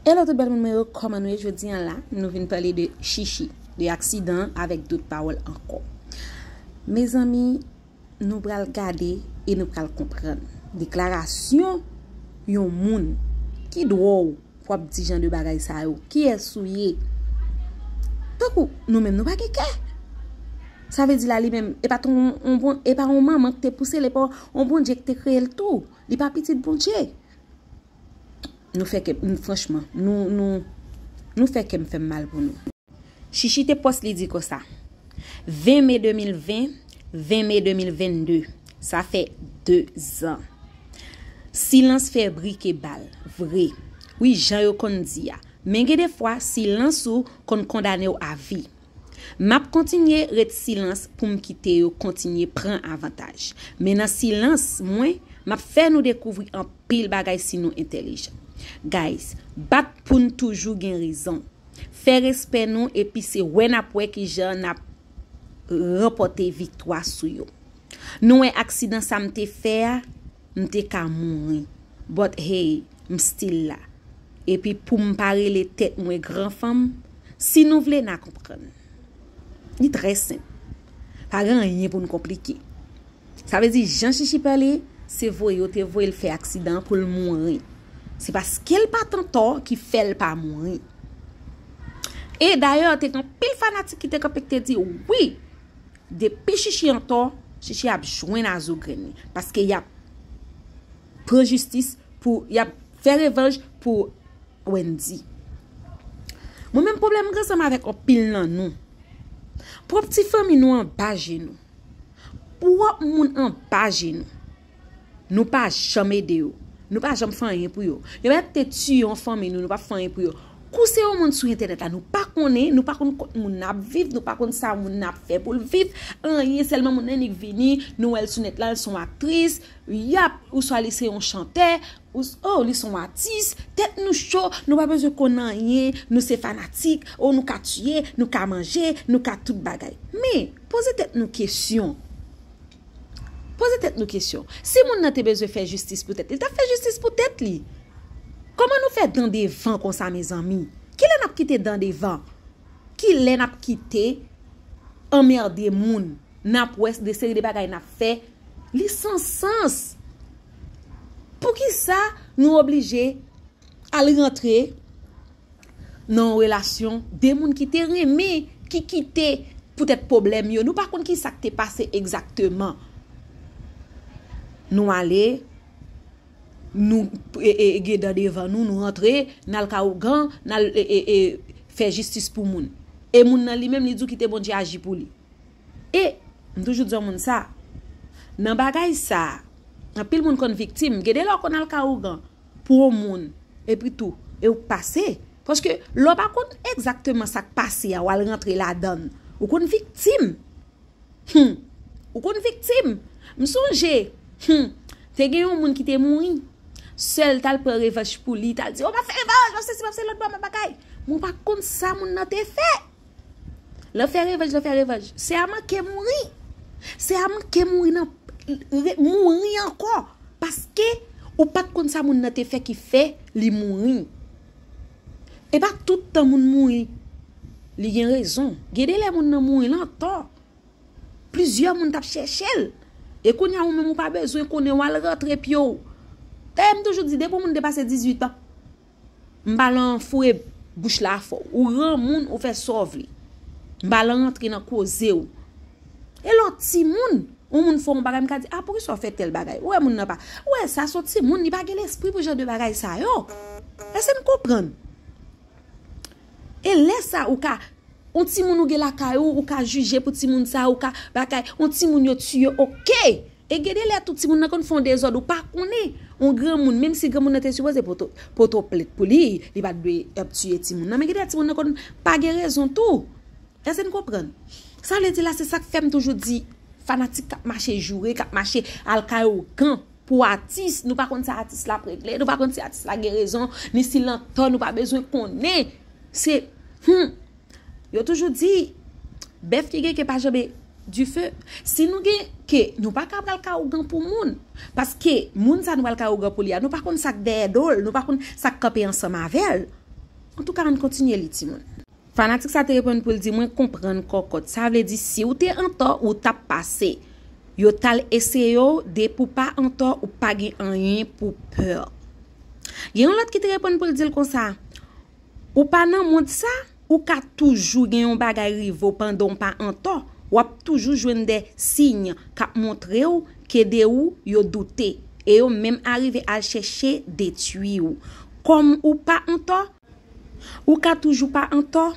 Hello tout bèl moun mwen yo kòman nou ye jodi an la nou vin pale de chichi de aksidan avèk dout pawòl ankò mezanmi nou pral gade e nou pral konprann deklarasyon yon moun ki dwè w pou ap di jan de bagay sa yo kiyès ou ye tankou nou menm nou pa gen kè sa vle di la li menm e pa t yon e pa yon manman ki te pouse l e pa yon bondje ki te kreye l tou li pa pitit bondje. Nou fè kè m franchman nou nou nou fè kèm fèm mal pou nou. Shishi te post li di konsa. 20 mai 2020 20 mai 2022 sa fè 2 zan silans fè bri ke bal vre wi jan yo konn di a men gen de fwa silans ou konn kondanew avi Map kontinye ret silans poum kite yo kontinye pran avantaj. Men nan silans mwen map fè nou dekouvri anpil bagay si nou entèlijan. Guys, bat poun toujou gen rezon. Fè respè nou epi se wè nap wè kijan nap ranpòte viktwa sou yo. Nou wè aksidan sam te fè a? M te ka mouri. But hey, m still la. Epi pou m pa rele tèt mwen gran fanm, si nou vle na konprann. Li trè senp. Pa gen anyen pou n konplike. Sa vle di jan Chichi pale, se voye yo te voye l fè aksidan an pou l mouri. Se paske l pa t antò ki fè l pa mouri. E dayè te gen anpil fanatik ki te kanpe ki te di, Wi! Depi shishi antò, shishi ap jwenn a zo grenn li, paske yap pran jistis pou, yap fè revanj pou Wendy. Mwen menm pwoblèm m gen sa m avèk anpil nan nou. Pwòp ti fanmi nou anba je nou. Pwòp moun anba je nou. Nou pa janm ede yo. Nou pa janm fè anyen pou yo. Yo mèt te tiye yon fanmi nou, nou pa fè anyen pou yo. Kou se yon moun sou entènèt la, nou pa konnen, nou pa konn kot moun nan ap viv, nou pa konn sa moun nan ap fè pou l viv, anyen, sèlman moun nan annik vini, nou wè l sou nèt la, l se yon aktris, yap, ouswa li se yon chantè, ous, o, li se yon atis, tèt nou cho, nou pa bezwen konn anyen, nou se fanatik, o, nou ka tiye, nou ka manje, nou ka tout bagay. Men, poze tèt nou kesyon. Poze tèt nou kesyon, si moun nan te bezwen fè jistis pou tèt li, li tap fè jistis pou tèt li. Kòman nou fè dan devan konsa mezanmi? Kilè nap kite dan devan? Kilè nap kite anmerde moun? Nap wè de seri de bagay nap fè, li san sans. Poukisa nou oblije al rantre? nan yon relasyon, 2 moun ki te renmen, ki kite poutèt pwoblèm yo, nou pa konn ki sa k te pase egzakteman, nou ale, nou gen dan devan nou, nou rantre, n al ka ougan, n al fè jistis pou moun. E moun nan li menm li di w kite Bondye aji pou li. E, m toujou di yon moun sa, nan bagay sa, anpil moun konn viktim, gen de lè w konn al ka ougan pou yon moun, epi tou, e ou pase, paske lè w pa konn egzakteman sa k pase a, w al rantre ladan l, ou konn viktim! Hum! Ou konn viktim! M sonje, hum! Te gen yon moun ki te mouri, sè l t al pran revanch pou li, t al di, o m ap fè revanch, m ap sesi, m ap sela, m ap bagay, men w pa konn sa moun nan te fè! Nan fè revanj nan fè revanj Sè a manke mouri Sè a manke mouri nan Mouri ankò Paske ou pat konn sa moun nan te fè ki fè li mouri E pa tout tan moun mouri Li gen rezon Gen de lè moun nan mouri lan tò Plizyè moun tap chèche l E kounye a ou menm ou pa bezwen konnen Wal rantre pye w Dayè m toujou di depi w moun depase 18 an M pa lan foure bouch la fò w. Ou ran moun ou fè sa w vle. M pa lan rantre nan koze w. E lò ti moun, yon moun fè yon bagay m ka di a pou ki sa w fè tèl bagay. Ou wè moun nan pa. Ou wè sa son ti moun li pa gen lespri pou jan de bagay sa yo. Èske n konprann? E lè sa ou ka On ti moun ou gen lakay ou ou ka jije pou ti moun sa ou ka bagay on ti moun yo tiye ok e gen de lè tou ti moun nan konn fè yon dezòd ou pa konnen on granmoun menm si granmoun nan te sipoze poto poto plent pou li li pat dwe ap tiye ti moun nan men gen de lè ti moun nan konn pa gen rezon tou èske n konprann sa vle di la se sak fè m toujou di fanatik k ap mache joure k ap mache al kay ougan Pou atis, nou pa konn sa atis la ap regle, nou pa konn si atis la gen rezon, ni si l an tò, nou pa bezwen konnen. Se, hum! Yo toujou di, bèf ki gen ke pa janbe dife. Si nou gen ke, nou pa ka pral ka ougan pou moun. Paske, moun sa nou pral ka ougan pou li a, nou pa konn sa k dèyè do l, nou pa konn sa k kanpe ansanm avè l. Antouka, ann kontinye li, timoun. Fanatik sa te reponn pou l di mwen konprann kòkòt sa vle di si w te antò ou t ap pase yo t al eseye w depi w pa antò ou pa gen anyen pou w pè gen yon lòt ki te reponn pou l di l konsa ou pa nan mond sa ou ka toujou gen yon bagay rive w pandan w pa antò w ap toujou jwenn de siy k ap montre w ke de ou yo doute e yo menm arive al chèche detwi w kòm ou pa antò Ou ka toujou pa antò.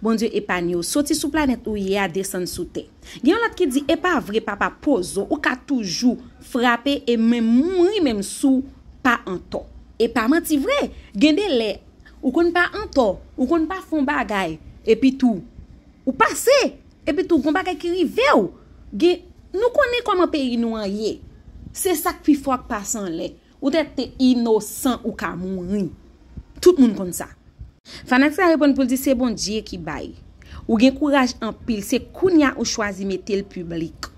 Bondye epanye w soti sou planèt ou ye a desann sou tè. Gen yon lòt ki di epa vre papa pozo ou ka toujou frape e menm mouri menm souw pa antò. Epa manti vre gen de lè ou konn pa antò ou konn pa fon bagay epi tou ou pase epi tou gon bagay ki rivew gen nou konnen kòman peyi nou an ye se sak pi fò ak pase anlè. Ou te te inosan ou ka mouri. Tout moun konn sa. Fanak sa reponn poul di se Bondye ki bay. Ou gen kouraj anpil se kounya ou chwazi metel piblik.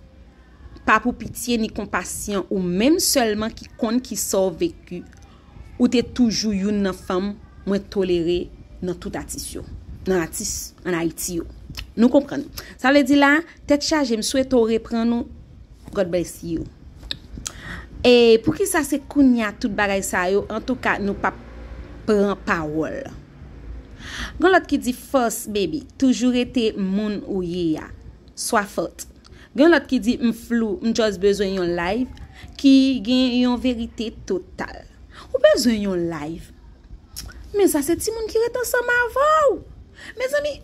Pa pou pitye ni konpasyon ou menm selman ki konn kisaw veki. Ou te toujou youn nan fanm mwen tolere nan tout atis yo. Nan atis an Ayiti yo. Nou konprann. Sa vle di la, tèt chaje m swete w reprann ou. God bless you. E poukisa se kounya tout bagay sa yo antouka nou pap pran pawol. Gon lot ki di fos baby toujou rete moun ou ye a. Swa fot. Gen yon lot ki di m flou m just bezwen yon live ki gen yon verite total. Ou bezwen yon live. Men sa se timoun ki ret ansanm avèw. Mezanmi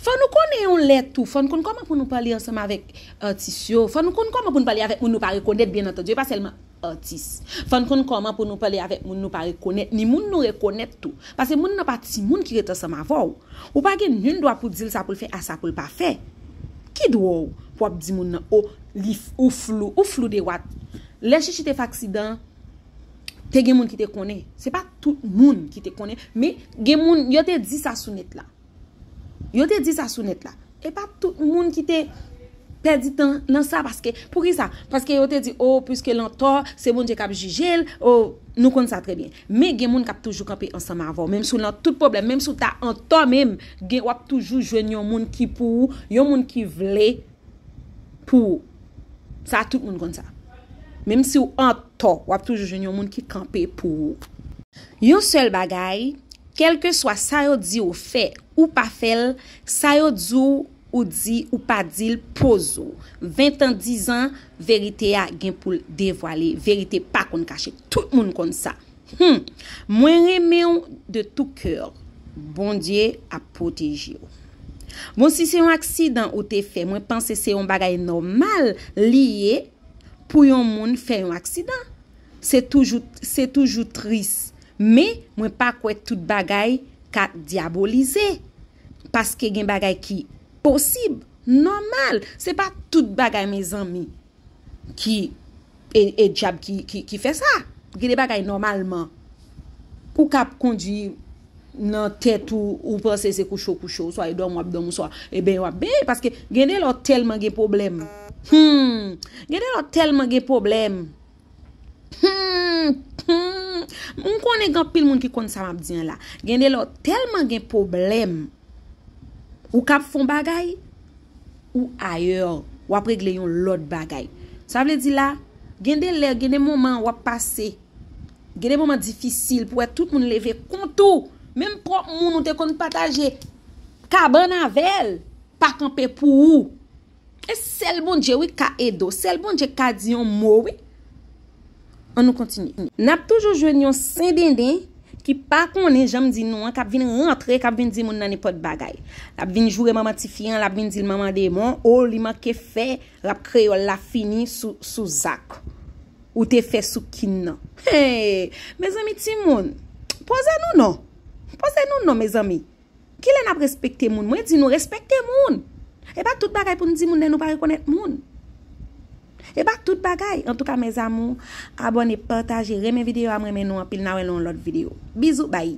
fò nou konnen yon lè tou fò nou konn koman pou nou pale ansanm avèk. Atis yo. Fò nou konn kòman pou nou pale avèk moun nou pa rekonèt byen antandu, e pa sèlman atis. Fò n konn kòman pou nou pale avèk moun nou pa rekonèt, ni moun nou rekonèt tou. Pase moun nan pa timoun ki ret ansanm avè w. Ou pa gen nin dwa pou w di l sa pou l fè a sa pou l pa fè. Ki dwa w pou w ap di moun nan o li ou flou, ou flou de wat. Lè Chichi te fè aksidan an, te gen moun ki te konnen. Se pa tout moun ki te konnen, men gen moun yo te di sa sou nèt la. Yo te di sa sou nèt la. E pa tout moun ki te pèdi tan nan sa paske pou ki sa? Paske yo te di o pwiske l antò se Bondye k ap jije l o nou konn sa trè byen. Men gen moun k ap toujou kanpe ansanm avè w menm si w nan tout pwoblèm menm si w ta antò menm gen w ap toujou jwenn yon moun ki pou ou yon moun ki vle pou sa tout moun konn sa. Menm siw antò wap toujou jwenn yon moun ki kanpe pou ou. Yon sèl bagay, kelkeswa sa yo di ou fè, ou pa fèl, sa yo di w ou di ou pa dil poze w. Ventan dizan, verite a gen poul devwale, verite pa konn kache, tout moun konn sa. Humm mwen renmenw de tout coeur bondye ap protejew bon si se yon aksidan ou te fè mwen panse se yon bagay nòmal li ye pou yon moun fè yon aksidan se toujou se toujou tris men mwen pa kwè tout bagay ka dyabolize paske gen bagay ki posib nòmal se pa tout bagay mezanmi. ki e dyab ki fè sa. Gen de bagay nòmalman ou ka ap kondi nan tèt ou ou panse se kou cho kou cho oswa e dòmi w ap dòmi oswa e benyen w ap benyen paske gen de lè w tèlman gen pwoblèm gen de lè w tèlman gen pwoblèm m konnen gen anpil moun ki konn sa m ap di an la gen de lè w tèlman gen pwoblèm Ou kap fon bagay, ou ayèr, wap regle yon lòt bagay. Sa vle di la, gen de lè, gen de moman wap pase, gen de moman difisil pou wè tout moun leve kont ou, menm pwòp moun ou te konn pataje kabann avèl, pa kanpe pou ou. E sel Bondye wi ka ede w. Sel Bondye ki ka di yon mo wi. An nou kontinye. Nap toujou jwenn yon sendenden ki pa konnen janm di nou an kap vin rantre kap vin di moun nan nenpòt bagay. Lap vin joure manman tifi an, lap vin dil manman demon, oh li manke fè rap kreyòl la fini sou zak ou te fè sou kin nan. Hey! Mezanmi timoun! Poze nou non! Poze nou non mezanmi! Kilè nap respekte moun? Mwen di nou respekte moun! E pa tout bagay pou nou di moun lè nou pa rekonèt moun. E pa tout bagay! Antouka mes amour, abone, pataje, renmen video a m renmen nou anpil na wè nan yon lòt video. Bizou bye!